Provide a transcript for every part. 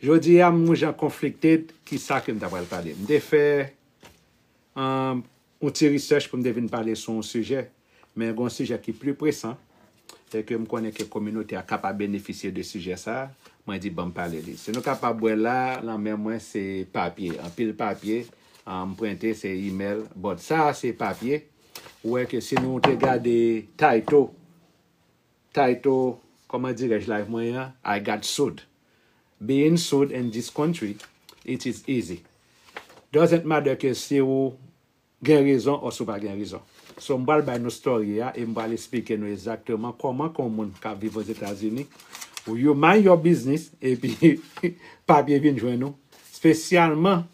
Jodi a m yon jan conflicted ki sa ke m ta pral pale. M te fè yon ti research pou m te vin pale sou yon sijè, men gen yon sijè ki pli presan e ke m konnen ke kominote a ka pa benefisye de sijè sa a, mwen di ban m pale li. Si nou kapab wè la, lan men mwen se papye, anpil papye m prente, se email, but sa a se papye, ou wè ke si nou te gade title. Title, Kòman dirèj life mwen an I got sued Being sued in this country it is easy Doesn't matter ke si ou gen rezon or si ou pa gen rezon So m pral bay nou story a e m pral esplike nou exactement kòman ke yon moun kap viv Ozetazini You mind your business epi papye vin jwenn ou Spesyalman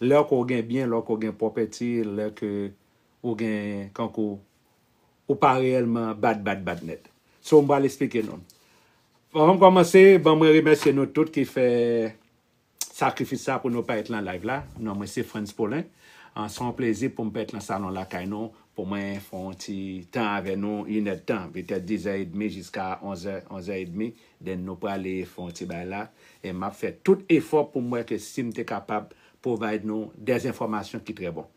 lè ke ou gen byen, lè ke ou gen property, lè ke ou gen kankou ou pa reyèlman bad bad bad nèt. So m pral esplike nou. Anvan m kòmanse, ban mwen remèsye nou tout ki fè sakrifis sa pou nou parèt lan live la. Non mwen se Frantz Paulin. Se yon plezi pou m parèt lan salon lakay nou pou mwen fè yon ti tan avè nou, inèdtan, petèt dizè edmi jiska onzè, onzè edmi, then nou prale fè yon ti bagay la. E m ap fè tout efò pou m wè ke si m te kapab provide nou dèzinfòmasyon ki trè bon.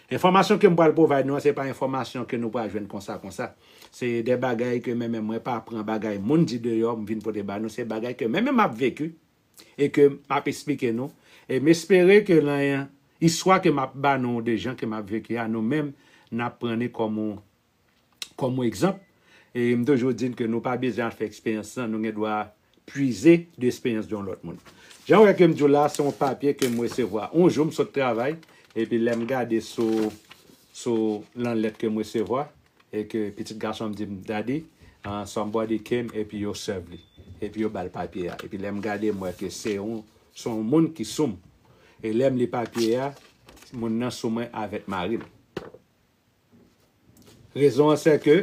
Enfòmasyon ke m pral provide nou an se pa enfòmasyon ke nou pral jwenn konsa konsa. Se de bagay ke menmen mwen pa pran bagay moun di deyò m vin pote ba nou, se bagay ke menmen m ap veku e ke m ap esplike nou. E m espere ke lan istwa ke m ap ba nou de jan ke m ap veku a nou menm n ap pran ni kòm yon Kòm egzanp, m toujou di n ke nou pa bezwen al fè eksperyans lan, nou gen dwa pwize de eksperyans de yon lòt moun. Jan ou wè ke m di w la, se yon papye ke m resevwa. Yon jou m sot travay, epi lè m gade sou, sou lan lèt ke m resevwa, e ke pitit gason m di m, Daddy, somebody came epi yo serve li, epi yo ba l papye a. Epi lè m gade, m wè ke se yon, se yon moun ki sou m. E lè m li papye a, moun nan sou mwen avèk mari l. Rezon an sè ke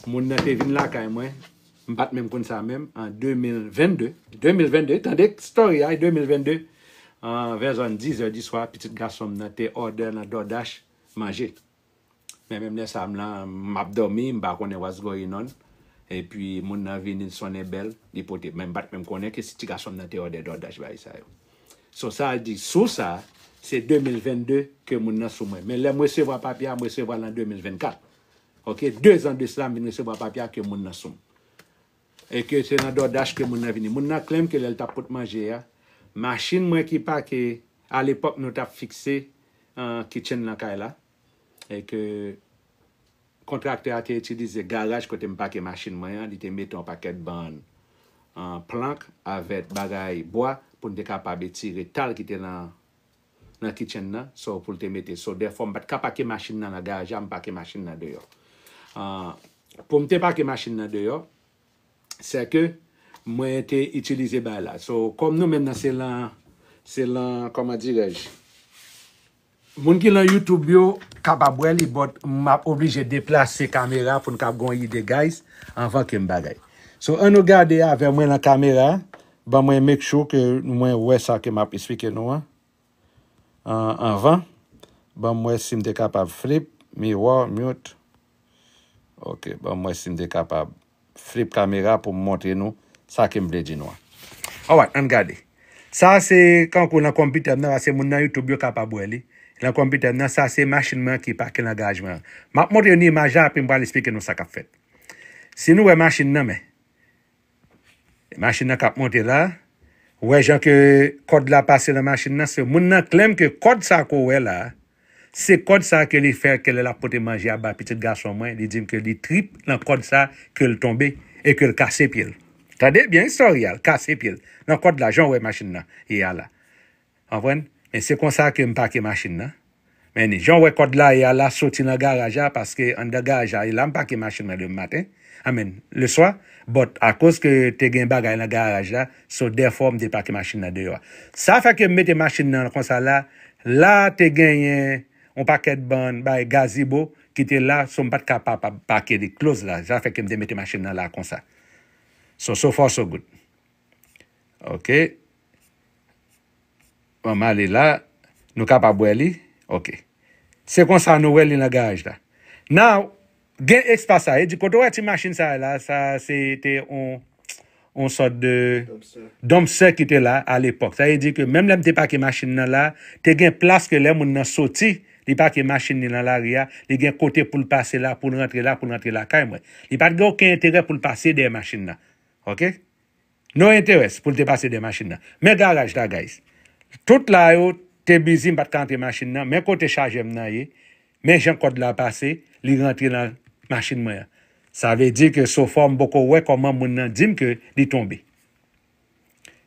moun nan te vin lakay mwen, m pat menm konn sa menm, an 2022, 2022, tande story a, 2022, an vè zòn 10 zè di swa, pitit gason m nan te òdè nan DoorDash manje. Men menm lè sa m la, m ap dòmi, m pa konnen what's going on, epi moun nan vini, l sonnen bèl, li pote, men m pat menm konnen ke se ti gason m nan te òdè DoorDash bay sa yo. Son sa a di sou sa, se 2022 ke moun nan sou mwen. Men lè m resevwa papye a, m resevwa l an 2024. Ok, dezan de sla m vin resevwa papye a ke moun nan sou m. E ke se nan DoorDash ke moun nan vini. Moun nan klèm ke lè l t ap pot manje a, machin mwen ki pake, alepòk nou t ap fikse kitchen nan kay la, e ke kontraktè a te itilize garaj kote m pake machin mwen an, li te mete yon pakèt ban an plank avèk bagay bwa pou n te kapab etire tal ki te nan kitchen nan, so pou l te mete so dèfò m pa t ka pake machin nan nan garaj la, m pake machin nan deyò. Pou m te pake machin nan deyò, sè ke mwen te itilize bay la. So kòm nou menm nan se lan, se lan, kòman dirèj, Moun ki lan YouTube yo kapab wè li but map oblije deplase kamera poun kab gen yon ide guys anvan kem bagay. So an nou gade avè mwen lan kamera ban mwen make sure ke mwen wè sa ke map esplike nou an anvan banm wè sim te kapab flip, miwò, mute ok banm wè sim te kapab flip kamera pou m montre nou sa ke m vle di nou an. Alright, ann gade. Sa a se kankou lan konpitè m nan, paske moun nan YouTube yo kapab wè li. Lan konpitè m nan, sa se machin mwen an ki pake lan garaj mwen an. M ap montre nou imaj la, apre m pral esplike nou sa k ap fèt. Si nou wè machin nan, men. Machin nan k ap monte la. Ou wè jan ke kòd la pase lan machin nan. Se moun nan klèm ke kòd sa ke ou wè la a, Se kòd sa ke li fè ke lè lap pote manje a bay pitit gason mwen li dim ke li trip nan kòd sa kel tonbe e kel kase pyel tande byen istorya al kase pyel nan kòd la janw wè machin nan ye a la anprann men se konsa kem pake machin nan men janw wè kòd la ye a la soti nan garaj la paske anndan garaj la e lam pake machin mwen demen maten. Amen le swa but akoz ke te gen bagay lan garaj la so therefore m te pake machine nan deyò a sa fè ke m mete machine nan konsa la la te genyen yon pakèt bann bay gazibo ki te la so m pat ka pa pake li close la sa fè ke m te mete machine nan la konsa so so far so good ok An m ale la Nou kapab wè li ok Se konsa nou wè li nan garaj la Now gen espas sa e di kote w wè ti machin sa a la sa a se te yon yon sòt de Dumpster ki te la a lepòk sa vle di ke menm lè m te pake machin nan la te gen plas ke lè moun nan soti li pake machin li nan lari a li gen kote pou l pase la pou l rantre la pou l rantre lakay mwen li pa t gen oken enterè pou l pase dèyè machin nan ok. No interest pou l te pase dè machin nan. Men garaj la guys. Tout la yo te busy m pat ka antre machin nan. Men kote chajè m nan ye. Men jan kòd la pase. Li rantre nan machin mwen an. Sa vle di ke so far m poko wè kòman moun nan di m ke li tonbe.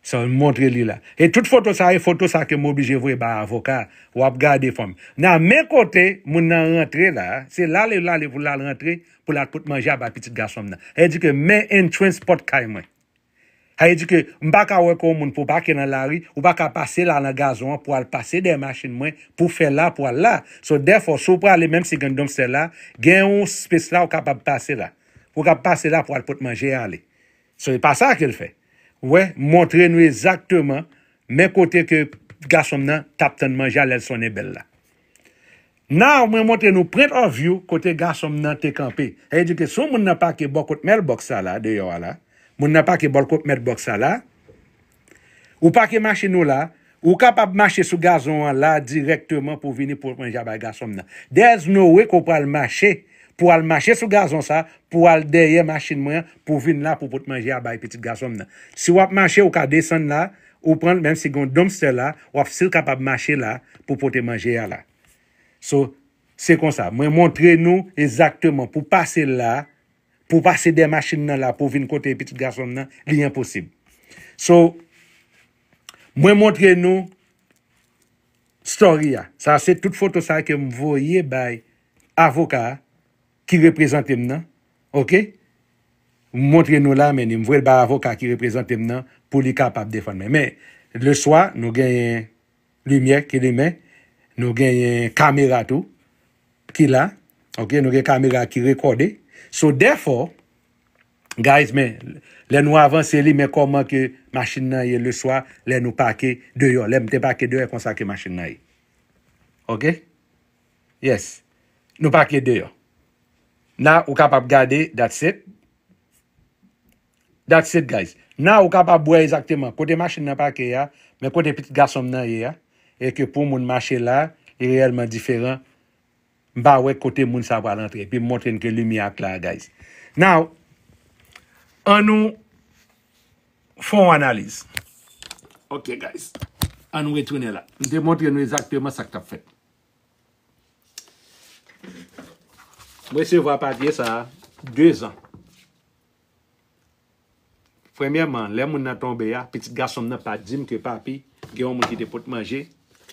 So m montre li la. E tout foto sa e foto sa ke m oblije voye bay avoka a. Wap gade fanmi. Nan men kote moun nan rantre la. Se la li lale pou l al rantre. pou l al pot manje a bay pitit gason m nan. Sa vle di ke men entrance pòt kay mwen. Sa vle di ke m pa ka wè kò yon moun pou w pake nan lari, ou pa ka pase la nan gazon an pou al pase dèyè machin mwen pou w fè la pou w al la. So dèfò si w prale menm si gen donmstè la, gen yon space la ou kapab pase la. Ou ka pase la pou al pot manje a ale. So e pa sa ke l fè. Ou wè, m montre nou ezakteman men kote ke gason m nan t ap tann manje a lè l sonnen bèl la. Now mwen montre nou print of view kote gason m nan te kanpe. Sa vle di ke sou moun nan pake bò kot mèl box sa la, deyò a la, moun nan pake bò kot mèt box sa la, ou pake machin ou la, ou kapab mache sou gazon an la dirèkteman pou vini pou pran jabay gason m nan. There's no way ke w pral mache pou al mache sou gazon sa pou al dèyè machin mwen an pou vin la pou pot manje a bay pitit gason m nan. Si w ap mache ou ka desann la, Ou pranl menm si gon dumpster la wap sil kapab mache la pou pote manje a la so se konsa mwen montre nou ezakteman pou pase la pou pase dè machin nan la pou vin kote pitit gasonm nan li enposib so mwen montre nou story a sa se tout foto sa kem voye bay avoka a ki reprezante m nan ok m montre nou la men ni m voye l bay avoka ki reprezante m nan pou li kapab defann mwen men leswa nou genyen limyè ki limen nou genyen kamera tou ki la ok nou gen kamera ki rekòde so dèfò guys men lè nou avanse li men kòman ke machin nan ye leswa lè nou pake deyò lè m te pake deyò e konsa ke machin nan ye ok. Yes Nou pa kle deyò Now ou kapab gade That's it That's it guys Now ou kapab wè ezakteman kote machin nan pake a Men kote pitit gason m nan ye a E ke pou moun mache la Li reyèlman diferan M pa wè kote moun sa pral antre Epi m montre n ke limyè a kla guys Now An nou Fè yon analiz Ok guys An nou retounen la M te montre nou ezakteman sa k tap fèt M resevwa papye sa 2 zan. Premyèman, lè moun nan tonbe a, pitit gason m nan pa di m ke papi gen yon moun ki te pot manje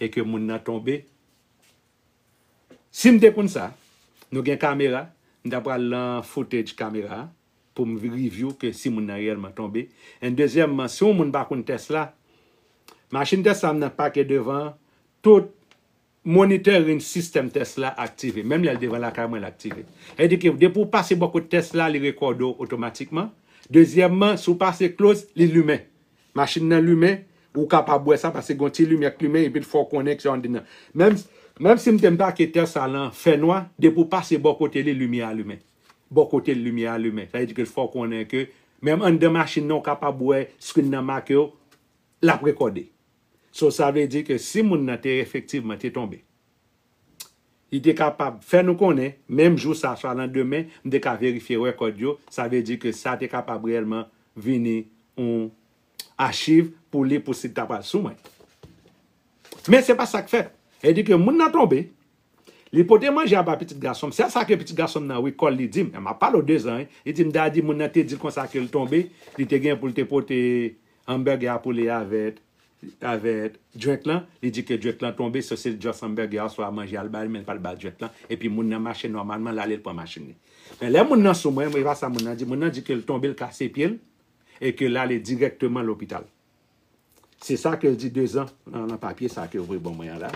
e ke moun nan tonbe. Si m te konn sa, nou gen kamera, m ta pral lan footage kamera a. pou m review ke si moun nan reyèlman tonbe. And dezyèmman, si yon moun pa konn tès la, machin tès la m nan pake devan an, tout monitoring system tès la aktive. Menm lè l devan lakay mwen l aktive. Sa vle di ke depi ou pase bò kot tès la, li rekòde w otomatikman. Dezyèmman, si w pase close, li limen. Machin nan limen, ou kapab wè sa paske gen yon ti limyè k limen epi l fè w konnen ke se yon andenan. Menm si m te m pake tès la lan fènwa, depi ou pase bò kote li, limyè a limen. Bò kote l limyè a limen. Sa vle di ke l fè w konnen ke menm anndan machin nan ou kapab wè screen nan make w, l ap rekòde. So sa vle di ke si moun nan te efektivman te tonbe, li te kapab fè nou konnen menm jou sa swa landemen, m te ka verifye rekòd yo, sa vle di ke sa te kapab reyèlman vini yon achiv pou li pou si li ta pral sou mwen. Men se pa sa k fèt. Edike moun nan tonbe, li pote manje a ba pitit gason m, se sa ke pitit gason m nan wi kòl li di m, m ap pale w de zan wi, li di m dadi moun nan te di l konsa ke l tonbe, li te gen pou l te pote hamburger a pou li avèk avèk drink lan, li di ke drink lan tonbe so se l just hamburger a oswa manje a l bay men l pa t ba l drink lan, epi moun nan mache nòmalman l ale l pran machin li. Men lè moun nan sou mwen, e pa sa moun nan di, moun nan di ke l tonbe l kase pye l, E ke l ale dirèkteman lopital. Se sa ke l di dezan nan papye sa ke yo voye ban mwen an la.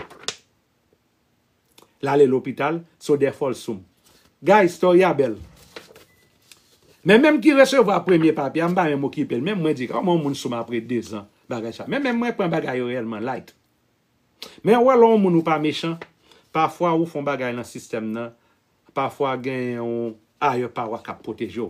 L ale lopital, so dèfòl soum. Guys, story a bèl. Men menm ki resevwa premye papye a, m pa menm okipe l. Menm mwen di, kòman yon moun soum apre dezan bagay sa. Men menm mwen pran bagay yo reyèlman light. Men ou wè lè yon moun ou pa mechan, pafwa ou fè yon bagay nan sistèm nan, pafwa gen yon ayè pawa k ap pwoteje w.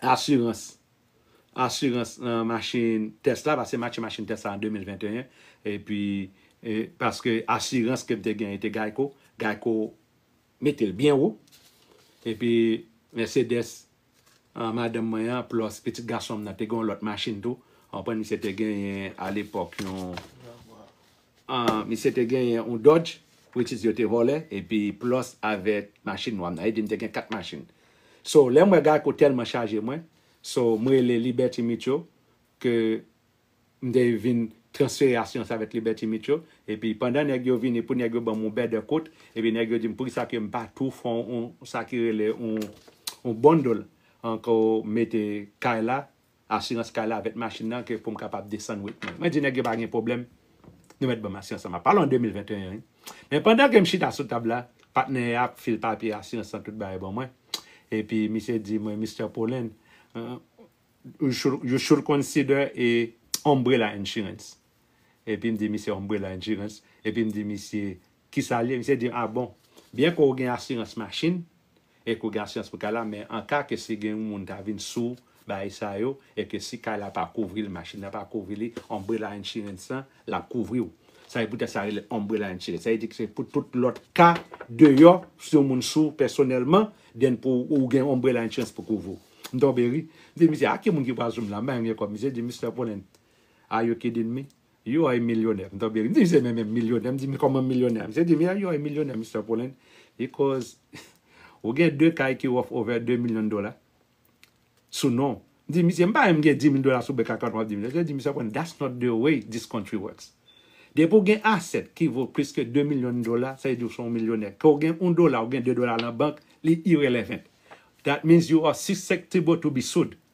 asirans asirans machin tès la paske m achte machin tès la an 2021 epi paske asirans ke m te genyen te gayko gayko mete l byen wo epi mèsedès a madanm mwen an plòs pitit gason m nan te gen yon lòt machin tou w konprann misye te genyen alepòk yon Misye te genyen yon Dodge which is yo te vòlè epi plus avèk machin nwa m nan. E di m te gen 4 machin. So lè m wè Geico tèlman chaje mwen, so m rele Liberty Mutual ke m te vin transfere asirans avèk Liberty Mutual. Epi pandan nèg yo vini pou nèg yo ban m yon bèdè kout, epi nèg yo di m poukisa ke m pa tou fè yon sa ki rele yon bundle ank mete kay la asirans kay la avèk machin nan ke poum kapab desann wet mwen. Mwen di nèg yo pa gen pwoblèm nou mèt banm asirans lan. Map pale an 2021 wi. Men pandan kem chita sou tab la, patnè a ap fil papye asirans lan tout bagay ban mwen. Epi misye di mwen Mister Pullen you should consider a umbrella insurance. Epim di misye umbrella insurance. Epim di misye Ki sa liye misye dim ah bon byen ke ou gen asirans machin e ke ou gen asirans pou kay la men an ka ke si gen yon moun ta vin sou bagay sa yo e ke si kay la pa kouvri li machin nan pa kouvri li umbrella insurance lan lap kouvri ou sa e pou tèt sa rele umbrella insurance sa e di ke se pou tout lòt ka deyò si yon moun sou pèsonèlman then pou ou gen umbrella insurance pou kouvri ou m tonbe ri m di misye ah ki moun ki pral sou m la m bay yon vye kòb misye di Mister Pollens are you kidding me? You ay milyonè m tonbe ri. M di misye men men milyonè m di men kòman milyonè. Misye di m ya you ay milyonè Mister Pullen because ou gen 2 kay ki worth over 2 million dola sou non w. M di misye m pa menm gen 10,000 dola sou bank account m ap di misye. Misye di Mister Pullen that's not the way this country works. Depi w gen asset ki vo plis ke 2 million dola sa vle di w son w milyonè. Ke w gen 1 dola ou gen 2 dola nan bank li irrelevant. That means you are susceptible to be sued.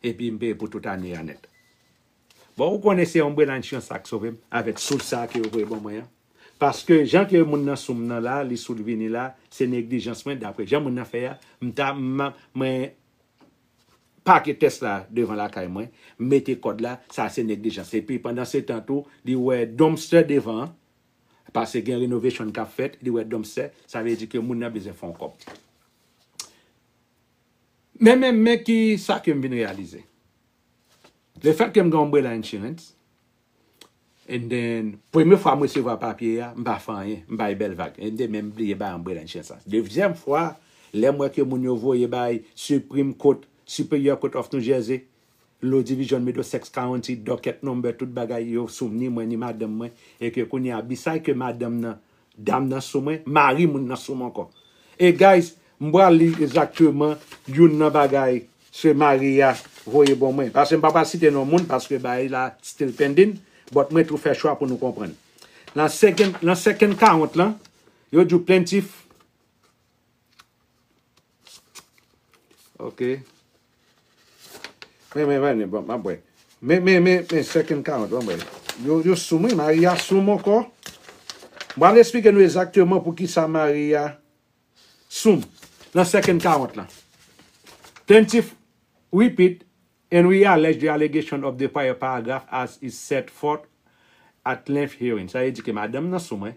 Epi m peye pou tout ane a nèt. Bon ou konnen se Umbrella Insurance la k sove m avèk soud sa ke yo voye ban mwen an. Paske jan ke moun nan sou m nan la, li soud vini la, se neglijans mwen daprè jan moun nan fè a, m ta mwen pake tès la devan lakay mwen, m mete kòd la, sa se neglijans. Epi pandan se tan tou, li wè dumpster devan an, pase gen renovation k ap fèt, li wè dumpster, sa vle di ke moun nan bezwen fè yon kòb. Men men men ki sa ke m vin reyalize. Le fèt ke m gen umbrella insurance and then premye fwa m resevwa papye a, m pa fè anyen, m bay bèl vag and then men m bliye bay umbrella insurance la. Dezyèm fwa lè m wè ke moun yo voye bay Supreme Court, Superior Court of New Jersey, Law Division Middlesex County Docket Number tout bagay yo sou ni mwen ni madanm mwen e ke kounye a beside ke madanm nan dam nan sou mwen mari moun nan sou mwen ankò e guys m pral li ezakteman youn nan bagay se mari a voye bon mwen pase m pa pral site non moun paske bagay la still pending but mwen tou fè chwa pou nou konprann nan second nan second count lan yo diw plaintiff. Ok. Men men men bon map bwe. Men men men men second count bon mwen. Yo yo sou mwen Maria sou mwen anko. Mwen al esplike nou ezakteman pou kisa Maria sou m nan second count lan. Plaintiff repeat and re-allege the allegation of the prior paragraph as is set forth at length hearing. Sa vle di ke madanm nan sou mwen.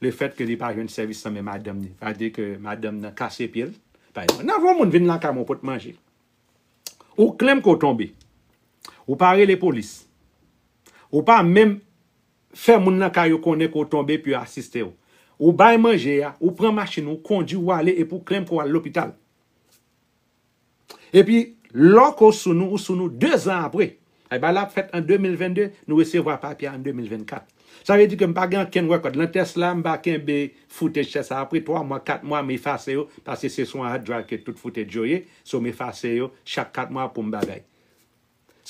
Le fèt ke li pa jwenn sèvis nan men madanm ni pa di ke madanm nan kase pye l. Pa egzanp, nan yon moun vin lakay mwen pot manje, ou klem ke w tonbe, ou pa rele polis, ou pa menm fè moun lakay yo konnen ke w tonbe pou yo asiste w. Ou bay manje a, ou pran machin ou, ou kondi ou ale epi ou klem ke w al lopital. Epi, loko sou nou ou sou nou dezan apre. Ay bagay la ap fèt an 2022, nou resevwa papye a an 2024. Sa vle di ke m pa gen ankenn rekòd. Nan tès la, m va kenbe footage tès sa apre 3 mwa, 4 mwa, m efase yo, paske se sou yon hard drive ke tout footage yo ye, so m efase yo chak 4 mwa pou m bagay.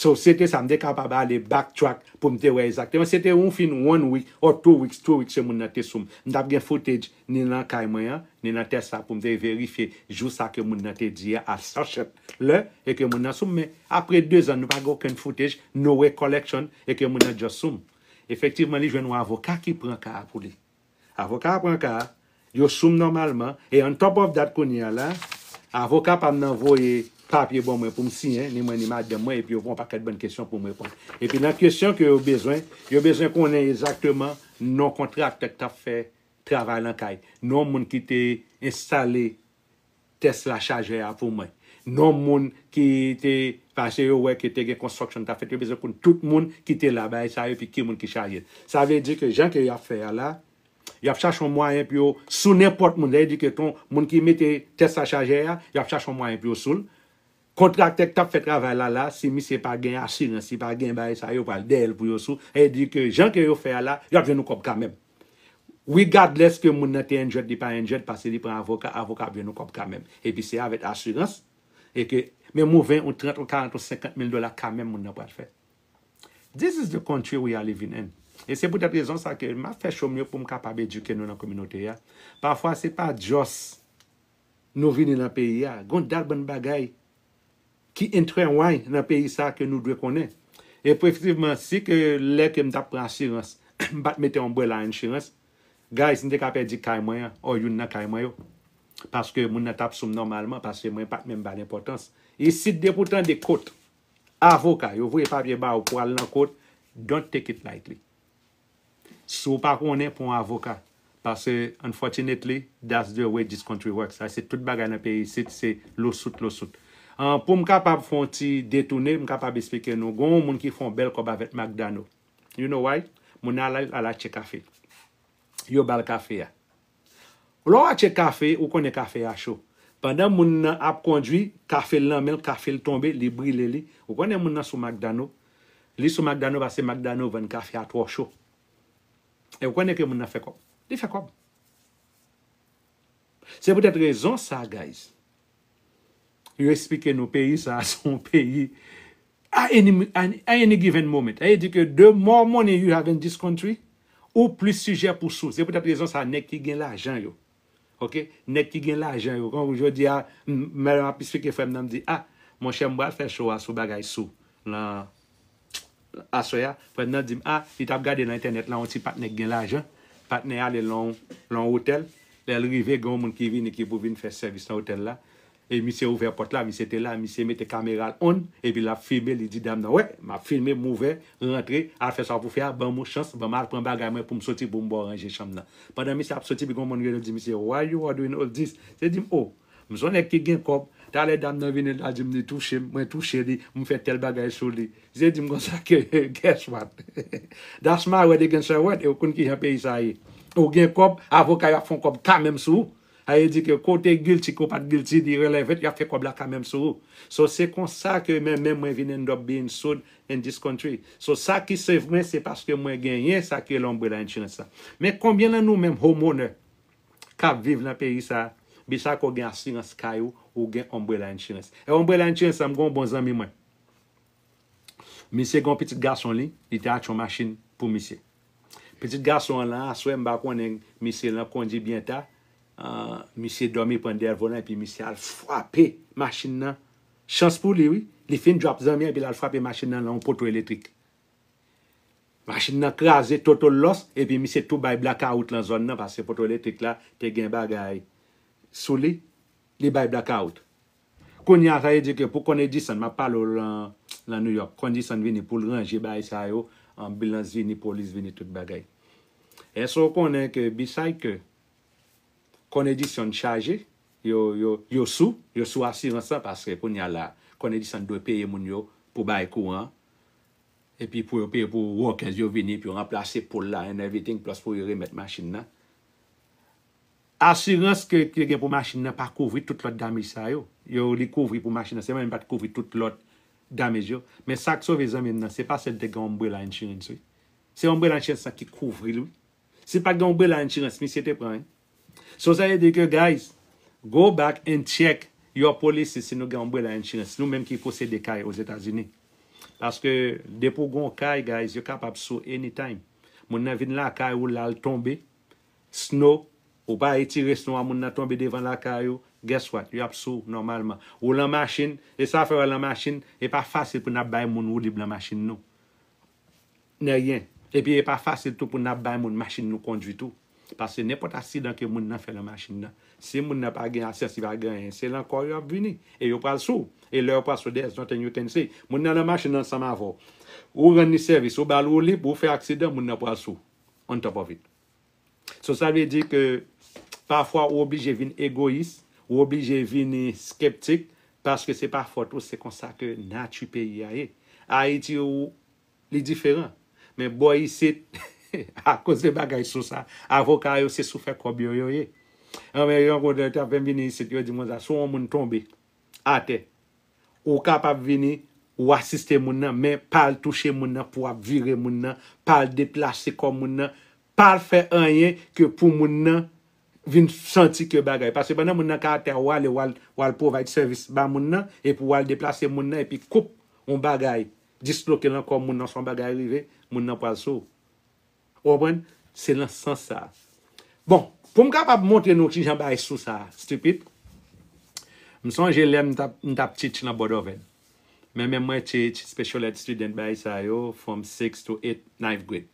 So se te sa, m te kapab ale back track pou m te wè ezakteman. Se te yon fin one week or two weeks, two weeks se moun nan te sou m. M t ap gen footage ni lan kay mwen an, ni lan Tesla pou m te verifye jou sa ke moun nan te di a a sachet lè e ke moun nan sou m. Men, apre de zan, nou pa gen okenn footage, no recollection e ke moun nan just sou m. Efektivman, li jwenn yon avoka ki pran ka a pou li. Avoka a pran ka a, yo sou m nòmalman, e on top of that kounye a la, avoka pa m nan voye papye ban mwen pou m siyen, ni mwen ni madanm mwen, epi yo pran on pakèt bann kesyon pou m reponn. Epi nan kesyon ke yo bezwen, yo bezwen konnen ezakteman non kontraktè k t ap fè travay lan kay, non moun ki te enstale Tesla chajè a pou mwen. Non moun ki te pase yo wè ke te gen construction ta fèt yo bezwen konn tout moun ki te la bagay sa epi ki moun ki chaje l. Sa vle di ke jan ke yap fè a la, yap chache yon mwayen pou yo sou nenpòt moun. Sa vle di ke ton moun ki mete Tesla chajè a, yap chache yon mwayen pou yo sou l. Kontraktè ki tap fè travay la la si misye pa gen asirans li pa gen bagay sa yo pral dèyèl pou yo sou e di ke jan ke yo fè a la yo ap jwenn yon kòb kamèm regadless ke moun nan te enjèd li pa enjèd pase li pran avoka avoka ap jwenn yon kòb kamèm epi se avèk asirans e ke menm yon 20 yon 30 yon 40 yon 50 mil dola kamèm moun nan pral fè this is the country we are living in e se poutèt rezon sa ke map fè show m yo poum kapab edike nou nan kominote a pafwa se pa just. nou vini nan peyi a, gon dat bann bagay ki entrewany nan peyi sa ke nou dwe konnen. Efektivman, si ke lè ke m tap pran asirans, m pat mete umbrella insurance, guys, m te ka pèdi kay mwen an, or youn nan kay mwen yo. Paske moun nan tap sou m nòmalman, paske mwen pat menm ba l enpòtans. Isit, depi w tande kot, avoka, yo voye papye ba ou pou al nan kot, don't take it lightly. Si w pa konnen, pran w avoka. Pase unfortunately, that's the way this country works. Sa se tout bagay nan peyi isit, se lawsuit, lawsuit. An, pou m kapab fè yon ti detoune, m kapab esplike nou, gen yon moun ki fè yon bèl kòb avèk Marc Dano. You know why? Moun nan al al achte kafe. Yo ba l kafe a. Lè w atche kafe, ou konnen kafe a cho. Pandan moun nan ap kondwi, kafe l nan men l, kafe l tonbe, li brile li. Ou konnen moun nan sou Mak Dano. Li sou Mak Dano paske Mak Dano vann kafe a twò cho. E ou konnen ke moun nan fè kòb. Li fè kòb. Se poutèt rezon sa guys, Yo esplike nou peyi sa a se yon peyi a any given moment. Sa vle di ke the more money you have in this country, ou plis sijè pou sou. Se pou tèt rezon sa a nèg ki gen lajan yo, ok, nèg ki gen lajan yo, tankou jodi a, m ap esplike frè m nan, m di, a, monchè m pral fè show a sou bagay sou lan. Aswè a, frè m nan di m a li t ap gade nan entènèt lan yon ti patnè ki gen lajan. Patnè a ale lan yon otèl, lè l rive gen yon moun ki vini ki pou vin fè sèvis nan otèl la. E misye ouvè pòt la, misye te la, misye mete kamera l on epi l ap filme, li di dam nan, wè, m ap filme, m ouvè, rantre, al fè sa w pou fè a, ban m yon chans, ban m al pran bagay mwen pou m soti pou m ba w ranje chanm nan. Pandan misye ap soti epi gen yon moun rele l di misye, Why you are doing all this? Misye di m, Oh, M son nèg ki gen kòb. Talè dam nan vini la di m li touche m, mwen touche li, m fè tèl bagay sou li. Ze di m konsa ke guess what? That's my word against her word e w konn kijan peyi sa ye. Ou gen kòb, avoka yo ap fon kòb kamèm sou ou. Sa vle di ke ke w te guilty, ke w pat guilty, li relevant, y ap fè kòb la kamèm sou ou. So se konsa ke men menm mwen vin end up being sued in this country. So sa ki save mwen se paske mwen genyen sa ki rele umbrella insurance la. Men konbyen nan nou menm homeowner kap viv nan peyi sa bi chak ou gen asirans kay ou ou gen umbrella insurance e umbrella insurance sa m gen yon bon zanmi mwen misye gen yon pitit gason li li te achte yon machin pou misye pitit gason an lan aswè m pa konnen misye lan kondi byen ta misye domi pran dèyè volan epi misye al fwape machin nan chans pou li wi li fin drop zanmi an epi lal fwape machin nan lan yon poto elektrik Machin nan kraze total loss epi misye tou bay blakawout lan zòn nan paske poto elektrik la te gen bagay sou li, li bay blakawout. Kounye a sa vle di ke pou Con Edison, map pale w lan lan New York, Con Edison vini pou l ranje bagay sa yo, anbilans vini, polis vini, tout bagay. Èske w konnen ke beside ke Con Edison chaje, yo, yo, yo sou, yo sou asirans lan paske kounye a la Con Edison dwe peye moun yo pou bay kouran, Epi pou yo peye pou workers yo vini pou yo ranplase pole la and everything plus pou yo remèt machine nan. Assurance ke te gen pou machine nan pa kouvri tout lòt damage sa yo. Yo li kouvri pou machine nan selman men li pat kouvri tout lòt damage yo. Men sak sove zanmi m nan se pa sèl te gen umbrella insurance wi. Se umbrella insurance lan ki kouvri l wi. Si pat gen umbrella insurance misye te pran wi. So sa vle di ke guys go back and check your policy si nou gen umbrella insurance nou menm ki posede kay ozetazini paske depi ou gen yon kay guys yo kapab sou anytime moun nan vin lakay ou lal tonbe snow ou pa etire snow a moun nan tonbe devan lakay ou guess what yo ap sou ou nòmalman ou lan machin e sa fè wè lan machin e pa fasil pou nap bay moun woulib lan machin nou Neryen. Epi e pa fasil tou pou n ap bay moun machin nou kondwi tou. Paske nenpòt aksidan ke moun nan fè nan machin nan, si moun nan pa gen asyans, li pa gen anyen, se lan kò yo ap vini. E yo pral sou ou. E lè yo pral sou ou, there's nothing you can say. Moun nan lan machin nan ansanm avè w. Ou rann li sèvis, ou ba l woulib, ou fè aksidan, moun nan pral sou ou on top of it. So sa vle di ke pafwa ou oblije vin egoyis, ou oblije vini skeptik paske se pa fòt ou se konsa ke nati peyi a ye. Ayiti ou li diferan. Men bò isit akoz de bagay so sa avoka yo se sou fè kòb yo yo ye. Anmwe yon kote yo tap fèm vini isit yo dim konsa si yon moun tonbe atè Ou kapab vini, ou asiste moun nan, men pa al touche moun nan pou w ap vire moun nan, pa al deplase kò moun nan, pa al fè anyen ke pou moun nan vin santi ke bagay. Paske pandan moun nan ka atè a, ou ale w al, w al provide sèvis ba moun nan, epi w al deplase moun nan epi koup yon bagay disloke lan kò moun nan oswa yon bagay rive, moun nan pral sou ou. Ou konprann? Se nan sans sa a. Bon, pou m kapab montre nou ki jan bagay sou sa a stipid, m sonje lè m t ap m t ap teach nan Bòdòvèn. Men men mwen teach special ed student bagay sa yo from six to eight, ninth grade.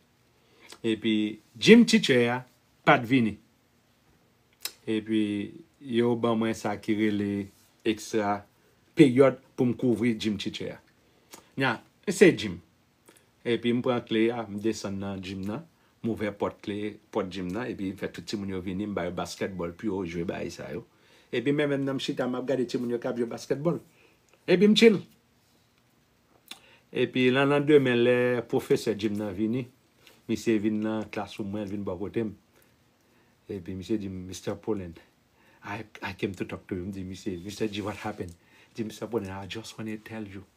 Epi gym teacher a pa t vini. Epi yo ban mwen sa ki rele extra peryòd pou m kouvri gym teacher a. Nan, se gym. Epi m pran kle a, m desann nan gym nan, m ouvè pòt kle, pòt gym nan, epi m fè tout timoun yo vini, m ba yo baskètbòl pou yo jwe bagay sa yo. Epi men menm nan m chita m ap gade timoun yo k ap jwe baskètbòl. Epi m chill. Epi nan landemen lè pwofesè gym nan vini, misye vin nan classroom mwen, l vin bò kote m. Epi misye di m, Mister Pullen, I I came to talk to you. M di misye, Mister G, what happened? Li di, Mister Pullen, I just wanna tell you.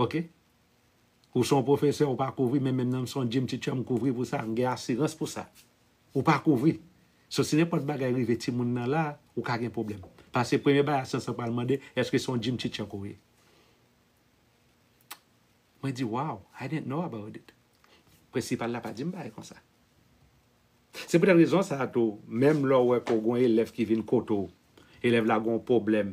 Ok Ou son profesè ou pa kouvri men menm nan m son Jim teacher m kouvri pou sa m gen asirans pou sa Ou pa kouvri So si nenpòt bagay rive timoun nan la ou ka gen pwoblèm Pase premye bagay asyans lan pral mande eske son Jim teacher ke w ye Mwen di wow I didn't know about it Prensipal la pa di m bagay konsa Se poutèt rezon sa tou menm lè w wè ke w gen yon elèv ki vin kote w elèv la gen yon pwoblèm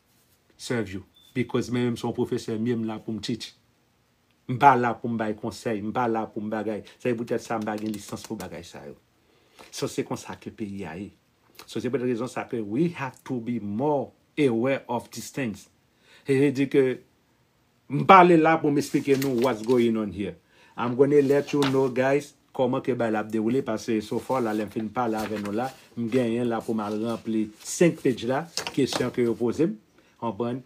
serve you because mwen menm se yon pwofesè myem la poum teach m pa la poum bay konsèy m pa la poum bagay sa se poutèt sa m pa gen lisans pou bagay sa yo so se konsa ke peyi a ye so se poutèt rezon sa ke we have to be more aware of these things se vle di ke M pale la pou m esplike nou what's going on here. I'm gonna let you know guys kòman ke bagay la ap dewoule pase so far la lè m fin pale avè nou la m genyen la pou m al ranpli 5 page la kesyon ke yo poze m konprann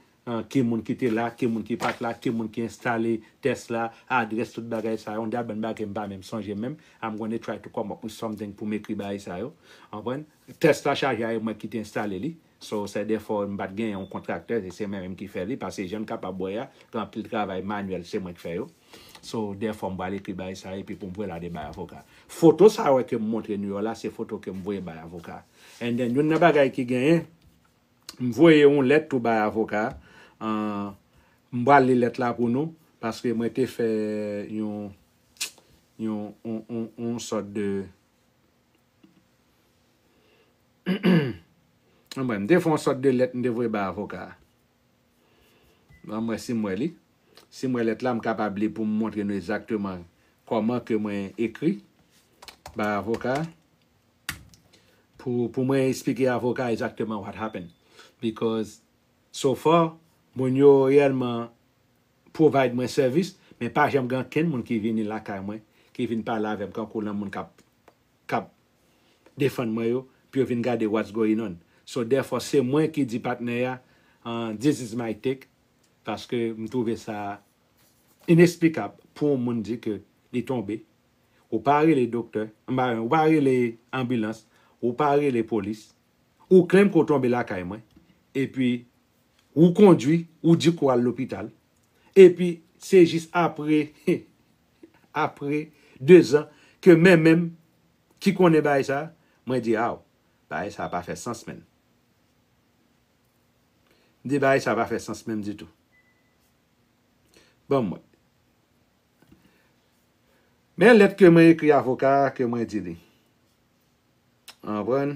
ki moun ki te la ki moun ki pat la ki moun ki enstale tès la adrès tout bagay sa yo dat bann bagay ke m pa menm sonje menm I'm gonna try to come up with something pou m ekri bagay sa yo konprann tès la chaje a e mwen ki te enstale li. So sè defo m pat gen yon kontraktè e se mwen menm ki fè li pase jann kapab wè a gen anpil travay manuel se mwen k fè yo so defo m pral ekri bay sa epi pou m voye la de bay avoka foto sa wè ke m montre nou yo la se foto ke m voye bay avoka and then youn nan bagay ki genyen m voye yon lèt tou bay avoka an m pral li lèt la pou nou paske mwen te fè yon yon yon yon sòt de. Anmwey, m te fè yon sòt de lèt m te voye bay avoka a. Ban m wè si m wè li. Si m wè lèt la, m kapab li pou m montre nou egzakteman kòman ke mwen ekri bay avoka a. Pou, pou mwen esplike avoka a egzakteman what happened. Because, so far, moun yo reyèlman provide mwen sèvis men pa janm gen ankenn moun ki vini lakay mwen ki vin pale avèm kankou lan moun kap kap defann mwen yo pou yo vin gade what's going on so therefore se mwen ki di patnè ya an this is my take paske m twouve sa inesplikab pou yon moun di ke li tonbe ou pa rele doktè anba ou pa rele anbilans ou pa rele polis ou klèm ke w tonbe lakay mwen epi Ou kondwi, ou di ke w al lopital, epi se jis apre, apre dezan ke men menm ki konnen bagay sa, mwen di aw, bagay sa pa fè sans menn. M di bagay sa pa fè sans menm ditou. Banm wè. Men lèt ke mwen ekri avoka a ke mwen di li. Ou konprann?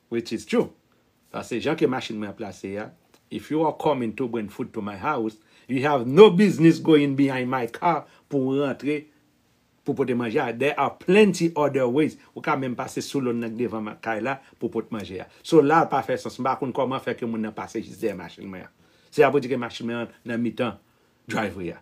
Which is true. Pase jan ke machine mwen ap plase a, if you are coming to bring food to my house, you have no business going behind my car pou ou rantre pou pote manje a. There are plenty other ways. Ou ka menm pase sou lone nan ki devan kay la pou pot manje a. So la pa fè sans. M pa konn koman fè ke moun nan pase jis dèyè machine mwen an. Se a pou di ke machine mwen an nan mitan driveway a.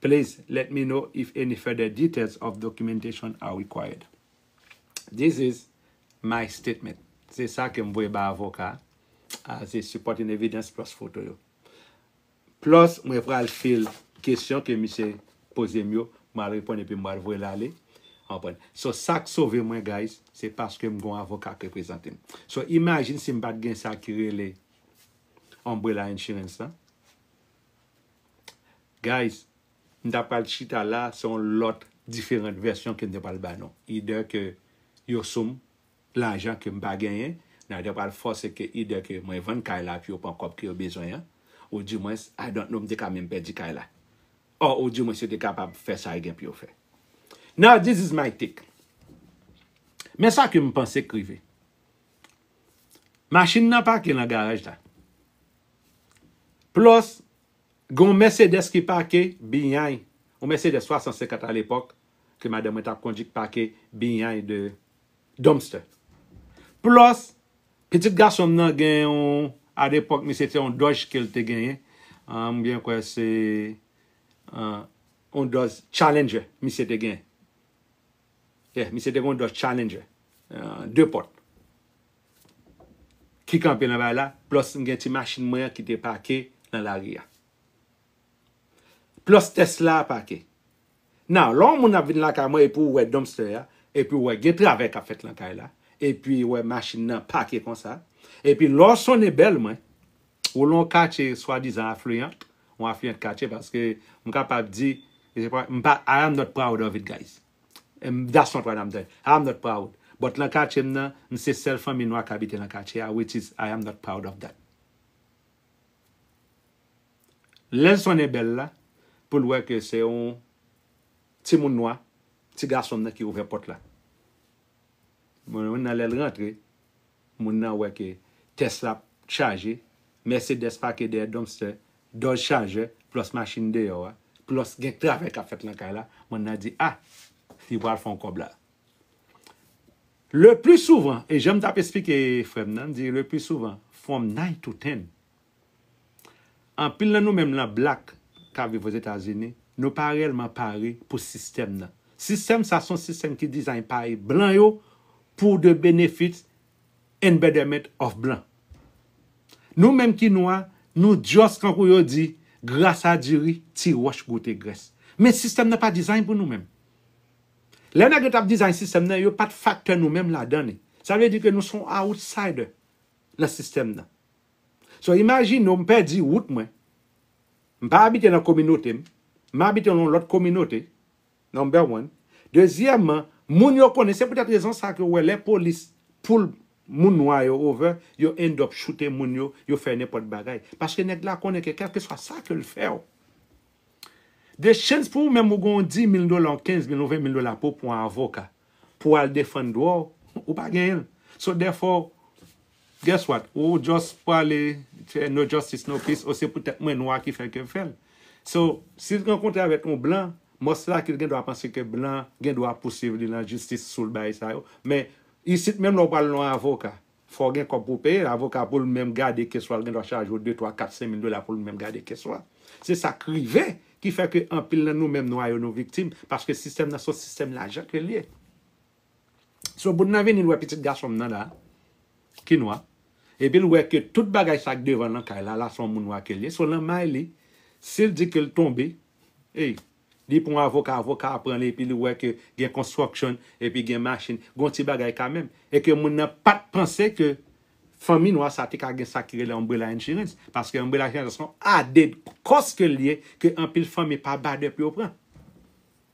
Please let me know if any further details of documentation are required. This is my statement. Se sa ke m voye bay avoka a as a supporting evidence plus foto yo. Plus mwen pral fil kesyon ke misye poze m yo, m pral reponn epi m pral voye l ale. Ou konprann? So sa k sove mwen guys, se paske m gen yon avoka k reprezante m. So imagine si m pa t gen sa ki rele Umbrella Insurance lan. Guys m ta pral chita la se yon lòt diferant vèsyon kem te pral ba nou either ke yo sou m lajan kem pa genyen nan te pral fòse ke either ke mwen vann kay la pou yo pran kòb ke yo bezwen an ou di mwens I don't know m te ka menm pèdi kay la or ou di mwens yo te kapab fè sa yo gen pou yo fè now this is my take men sa kem panse k rive machine nan pake nan garaj la. Plus gen yon Mercedes ki pake bny, yon Mercedes 350 a lepòk ke madanm mwen tap kondui k pake bny de Dumpster. Plus pitit gason m nan gen yon a lepòk misye se yon Dodge ke l te genyen, m byen kwè se yon Dodge Challenger misye te genyen. Yeah, misye te gen yon Dodge Challenger 2 pòt ki kanpe nan bay la, plus m gen ti machin mwen an ki te pake nan lari a. Plus Tesla a pake. Now, lè yon moun ap vin lakay mwen epi ou wè dumpster a, epi ou wè gen travay k ap fèt nan kay la, epi ou wè machin nan pake konsa, epi lè w sonnen bèl mwen, Ou lan yon katye swadizan affluent, yon affluent katye paske m kapab di, m pa, I am not proud of it guys. That's not what I'm saying. I am not proud. But lan katye m nan, m se sèl fanmi nwa k abite lan katye a which is I am not proud of that. Lè l sonnen bèl la, pou l wè ke se yon timoun nwa, ti gason m nan ki ouvè pòt la. Mwen nan lè l rantre, Moun nan wè ke tès la chaje, Mercedes pake dèyè dumpster, Dodge Charger plus machin deyò a, plus gen travay kap fèt lan kay la, moun nan di ah li pral fon kòb la. Le plus souvent, e janm tap esplike frèm nan, m di le plus souvent from nine to ten, Anpil nan nou menm lan Black kap viv Ozetazini, nou pa rèlman pare pou sistèm nan. Sistèm sa son sistèm ki design pay blan yo pou the benefit and betterment of blan. Nou menm ki nwa, nou just kankou yo di, gras a diri, ti wòch goute grès. Men sistèm nan pa design pou nou menm. Lè nèg yo tap design sistèm nan, yo pat factor nou menm ladan li. Sa vle di ke nou son outsider nan sistèm nan. So imajine w m pèdi wout mwen, m pa abite nan kominote m, m abite nan yon lòt kominote, number one. Dezyèman, moun yo konnen, se poutèt rezon sa ke w wè lè polis poul moun nwa yo over, yo end up choute moun yo, yo fè nenpòt bagay. Paske nèg la konnen ke kèlkeswa sa ke l fè w, de chans pou ou menm ou gen yon 10 mil dola, yon 15 mil, yon 20 mil dola pou w pran yon avoka pou w al defann dwa w, ou pa genyen l. So dèfò, Guess what ou just pwale fè no justice no peace o se pou tèt mwen nwa ki fè kew fèl so sil rankontre avèk yon blan mòs la ke l gen dwa panse ke blan gen dwa pousuiv li lan jistis soul bagay sa yo men isit menm lè w pwal lan avoka fòw gen kòb pou peye l avoka poul menm gade kes la l gen dwa chaje w de twa kat sen mil dola poul menm gade kes la se sak rive ki fè ke anpil lan nou menm nwa yo nou viktim paske sistèm nan son sistèm lajan ke l ye. So Boun nan vini l wè pitit gason m nan la ki nwa epi l wè ke tout bagay sa k devan l nan kay la la se yon moun nwa ke l ye so nan may li si l di ke l tonbe ey li pran yon avoka avoka a pran li epi li wè ke gen construction epi gen machin gen yon ti bagay kamèm e ke moun nan pa t panse ke fanmi nwa sa te ka gen sa ki rele umbrella insurance paske umbrella insurance se yon added cost ke l ye ke anpil fanmi pa bade pou yo pran.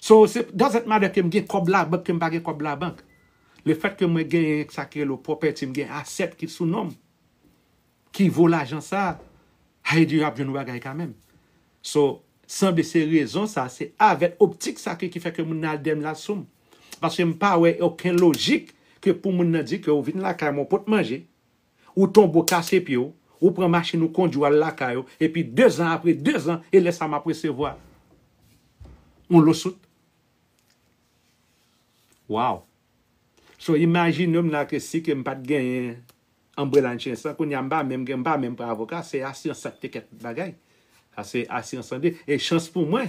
So se doesnt matter kem gen kòb labank kem pa gen kòb labank le fèt ke mwen genyen sa ki rele w property m gen asset ki sou nom ki vo lajan sa hay di yo ap jwenn yon bagay kamèm so sanble se rezon sa se avèt optik sa ke ki fè ke moun nan al dèm la soum paske m pa wè oken lojik ke pou moun nan di ke ou vin lakay mwen ou pot manje Ou tonbe ou kase pye w, ou pran machin ou kondwi w al lakay ou epi dezan apre dezan e lè sa m ap resevwa yon losout. Wow! So imajine m la ke si ke m pa t genyen Umbrella Insurance lan kounye a m pa menm gen m pa menm pran avoka se asirans sa k te kèt bagay. Sa se asirans sante e chans pou mwen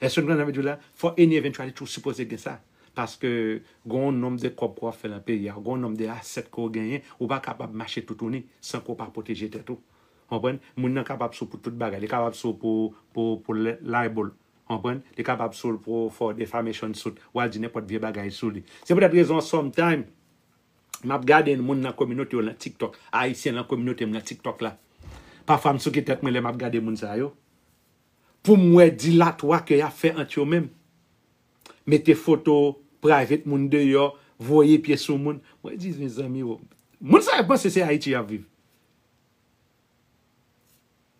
Èske nou konprann sa m vle di w la? Fò any eventuality toujou sipoze gen sa. Paske gen yon nonb de kòb ke w ap fè lan peyi a, gen yon nonb de asset ke w genyen, ou pa kapab mache toutouni san ke w pa pwoteje tèt ou. Ou konprann? Moun nan kapab sou pou tout bagay. Li kapab sou pou pou pou libel. Ou konprann? Li kapab sou l pou for defamation suit. Ou al di nenpòt vye bagay sou li. Se poutèt rezon an sometime m ap gade moun lan kominote yo lan tiktok, Ayisyen lan kominote m lan tiktok la. Pafwa m souke tèt mwen lè m ap gade moun sa yo. poum wè dilatwa ke yap fè ant yo menm mete foto private moun deyò voye pye sou moun mwen di mezanmi oh moun sa yo panse se ayiti yap viv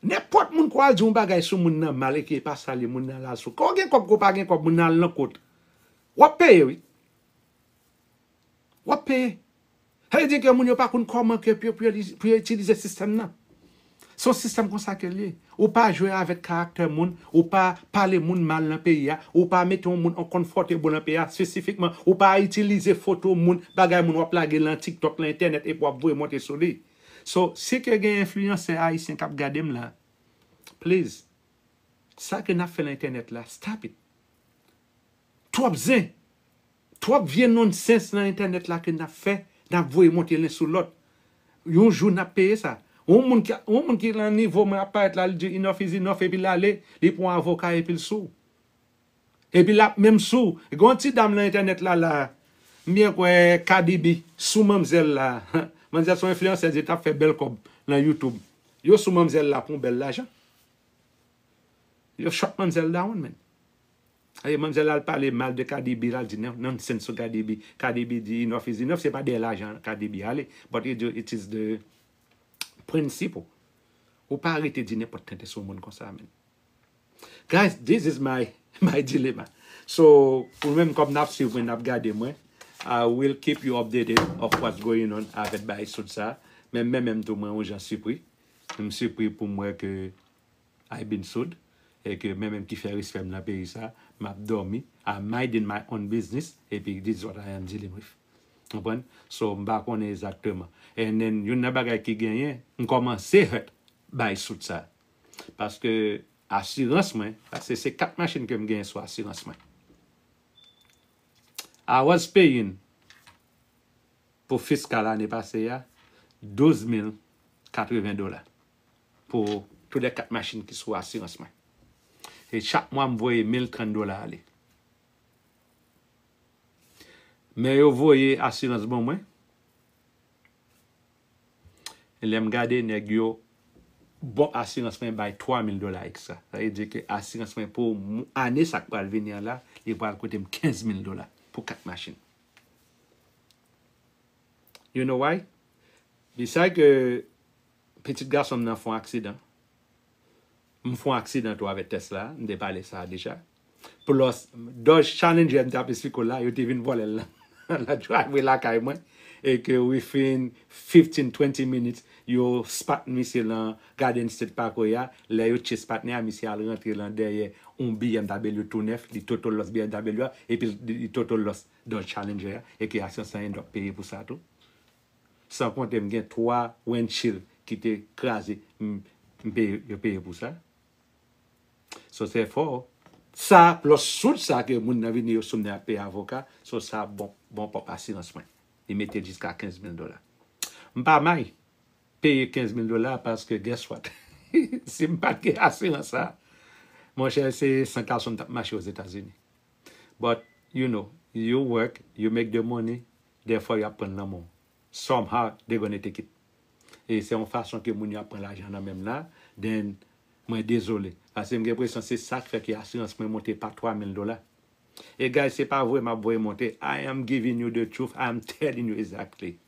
nenpòt moun kwa al di yon bagay sou moun nan mal eke epa sal ye moun nan al sou ke ou gen kòb ke ou pa gen kòb moun nan al nan kot wap peye wi. Wap peye. Sa vle di ke moun yo pa konn koman ke pou yo itilize sistèm nan. Se yon sistèm konsa ke li ye. Ou pa jwe avèk karaktè moun, ou pa pale moun mal nan peyi a, ou pa mete yon moun unconfortable nan peyi a spesifikman, ou pa itilize foto moun, bagay moun wap lage lan tiktok, lan entènèt epi wap voye monte sou li. So, si ke gen enfliyansè ayisyen kap gadem la, please, sa ke nap fè lan entènèt la, stop it. Twòp zen. Twòp vye nonsense nan entènèt la ke nap fè, nap voye monte len sou lòt. Yon jou nap peye sa. Yon moun ki yon moun ki lan nivo mwen ap parèt la li di enough is enough epi lale li pran yon avoka epil sou. Epi lap menm sou. Gen yon ti dam lan entènèt la la, m byen kwè Kadibi sou manmzèl la. Manmzèl son enfliyansèz li tap fè bèl kòb lan YouTube. Yo sou manmzèl la pou yon bèl lajan. Yo shot manmzèl dawonn menn. Aye manmzèl al pale mal de Kadibi lal di nonsense sou Kadibi, Kadibi di enough is enough se pa dèyè lajan Kadibi ale but it it is the principle ou pa rete di nenpòt tenten sou moun konsa menn guys this is my my dilemma so ou menm kòm nap swiv mwen nap gade mwen I will keep you updated of what's going on avèk bagay soud sa menm menm tou mwen yon jan sipri m sipri poum wè ke I been sold e ke men menm ki fè respè m nan peyi sa map dòmi I minding my own business epi this is what I am dealing with ou konprann so m pa konnen ezakteman and then youn nan bagay ki genyen m kòmanse hurt by soud sa paske asirans mwen paske se 4 machin ke m genyen sou asirans mwen I was paying pou fiskal ane pase a 12 mil 80 dola pou tou lè kat machin ki sou asirans mwen. E chak mwa m voye 1030 dola ale. Men yo voye asirans ban mwen. E lè m gade nèg yo bon asirans mwen bay 3000 dola ekstra. Sa vle di ke asirans mwen pou ane sa k pral vini an la, li pral koute m 15000 dola pou kat machin. You know why? Li sa ke Pitit gason m nan fon aksidan. M fon aksidan tou avèk Tesla, m te pale sa a deja. Plos, Dodge Challenger m te ap esplike w la, yo te vin vòlè l nan nan driveway lakay mwen e ke within fifteen, twenty minutes, yo spot misye lan Garden State Parkway a. Lè yo chase patnè a, misye al rantre lan dèyè yon BMW tou nèf, li total loss BMW a epi li total loss Dodge Challenger a e ke aksyon san endòk peye pou sa tou. San konte m gen 3 wendchild ki te kraze m peye yo peye pou sa. So se fo. Sa lawsuit sa ke moun nan vini yo sou m nan ap peye avoka, so sa bon bon pwòp asirans mwen. Li mete l jiska 15 mil dola. M pa may peye 15 mil dola paske guess what si m pat gen asirans sa mon chè se san kalson m tap mache Ozetazini. But you know, you work, you make the money, Dèfwa yo ap pran nan men w. Somehow they gonna take it. E se yon fason ke moun yo ap pran lajan nan men m la, then mwen dezole. Paske m gen enpresyon se sa k fè ke asirans mwen monte pa 3000 dola. E guys se pa vwe m ap voye monte, I am giving you the truth, I am telling you exactly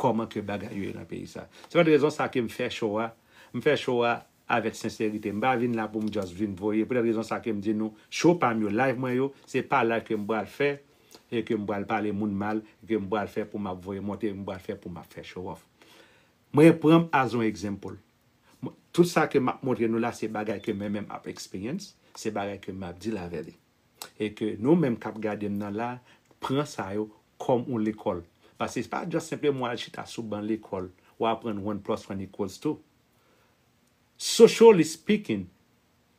kòman ke bagay yo ye nan peyi sa. Se poutèt rezon sa ke m fè show a, m fè show a avèk senserite m pa vin la pou m just vin voye pou tèt rezon sa ke m di nou show pa m yo live mwen yo se pa live ke m pral fè e ke m pral pale moun mal e ke m pral fè pou m ap voye monte m pral fè pou m ap fè show off mwen pran m as yon example tout sa ke m ap montre nou la se bagay ke mwen menm ap experience se bagay ke m ap deal avè li e ke nou menm k ap gade m nan la pran sa yo kòm yon lekòl paske se pa just senpleman w al chita sou ban lekòl w aprann one plus one equals two. Socially speaking,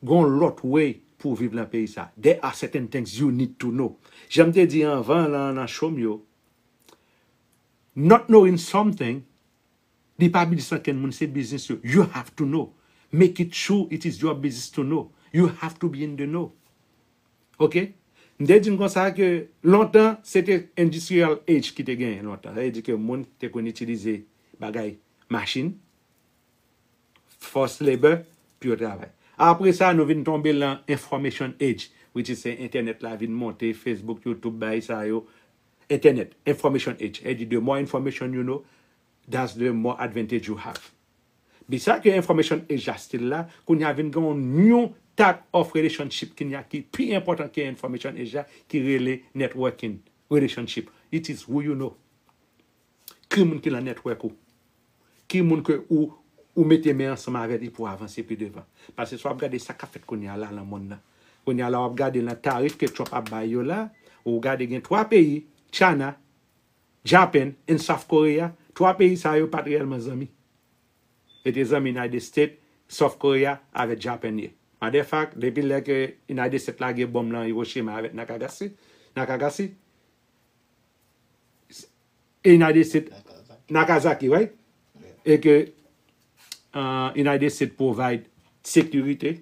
gon lòt way pou w viv nan peyi sa. There are certain things you need to know. Jan m te di anvan lan nan show m yo, not knowing something, li pa biznis ankenn moun, se biznis yo. You have to know. Make it sure it is your business to know. You have to be in the know. Ok? M te di n konsa ke lontan, se te industrial age ki te genyen lontan. Sa vle di ke moun te konn itilize bagay machin, force labour pou yo travay. Apre sa nou vin tonbe lan information age which is se entènèt la vin monte, Facebook, YouTube bagay sa yo, entènèt, information age, èdi the more information you know that's the more advantage you have. Bi sa ke information age la still la, kounye a vin gen yon new type of relationship kounye a ki pi enpòtan ke information age la ki rele networking relationship, it is who you know. Ki moun ki lan network ou? Ki moun ke ou ou mete men ansanm avè li pou avanse pi devan? Pase si wap gade sa kap fèt kounye a la lan monn nan. Kounye a la wap gade lan tarif ke Trump ap bay yo la, ou gade gen 3 peyi, China, Japan and South Korea, 3 peyi sa yo pat reyèlman zanmi. Yo te zanmi United States, South Korea avè Japan ye. Matter fact, depi lè ke United States lage bomb lan Hiroshima avè Nakagasi, Nakagasi, United States Nakazaki right e ke United States provide sekirite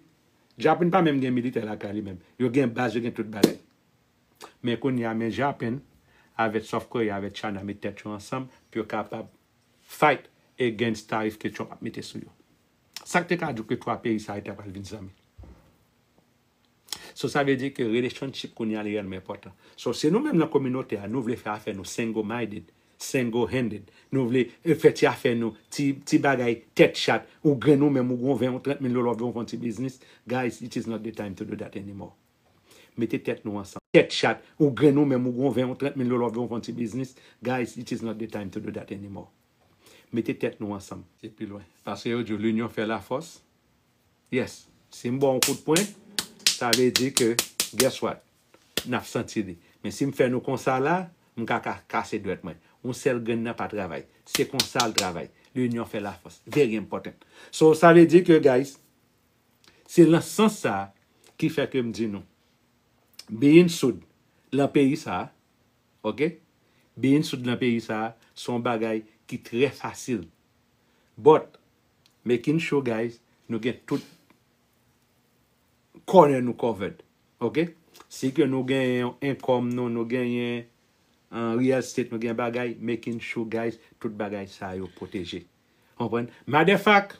Japan pa menm gen militè lakay li menm yo gen baz yo gen tout bagay men kounye a men Japan avèk South Korea avèk China met tèt yo ansanm pou yo kapab fight against tarif ke Trump ap mete sou yo sak te ka di w ke 3 peyi sa yo ta pral vin zanmi. So sa vle di ke relationship kounye a li rèlman enpòtan. So si nou menm nan kominote a nou vle fè afè nou single minded, single handed, nou vle fè ti afè nou, ti ti bagay tèt chat, ou grenn ou menm ou gen yon 20 ou 30 mil dola wap di wap fè yon ti biznis, guys it is not the time to do that anymore. Mete tèt nou ansanm. Tèt chat, ou grenn ou menm ou gen yon 20 ou 30 mil dola wap di wap fè yon ti biznis, guys it is not the time to do that anymore. Mete tèt nou ansanm. Se pi lwen. Paske yo di w linyon fè lafòs. Yes si m baw yon kout pwen sa vle di ke guess what nap santi li men si m fè nou konsa la m ka ka kase dwèt mwen yon sèl grenn nan pa travay se konsa l travay l'union fait la force very important so sa vle di ke guys se lan sans sa ki fè ke m di nou being soud lan peyi sa ok being soud lan peyi sa se yon bagay ki trè fasil but Making sure guys nou gen tout corner nou covered ok si ke nou gen yon income nou nou gen yon real estate nou gen bagay making sure guys tout bagay sa yo protege konprann maderfact.